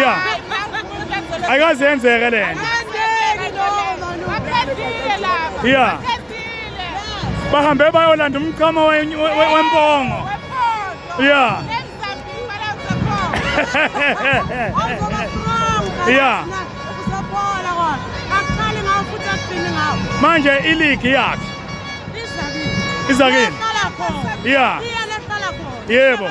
ya ayikaze yenzeke le nto ya bahambe bayolanda umchamo wempongo ya ya manje iligi yakhe izakini ya yebo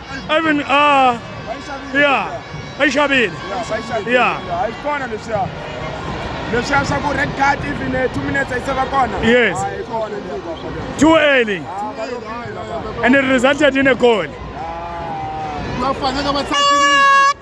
Even uh yeah, ayishabile. Yeah. Ayikona lesha. Lesha saku red card even 2 uh, minutes ayisaba kona. Yes. Too early. And it resulted in a goal. Bafanele bathathe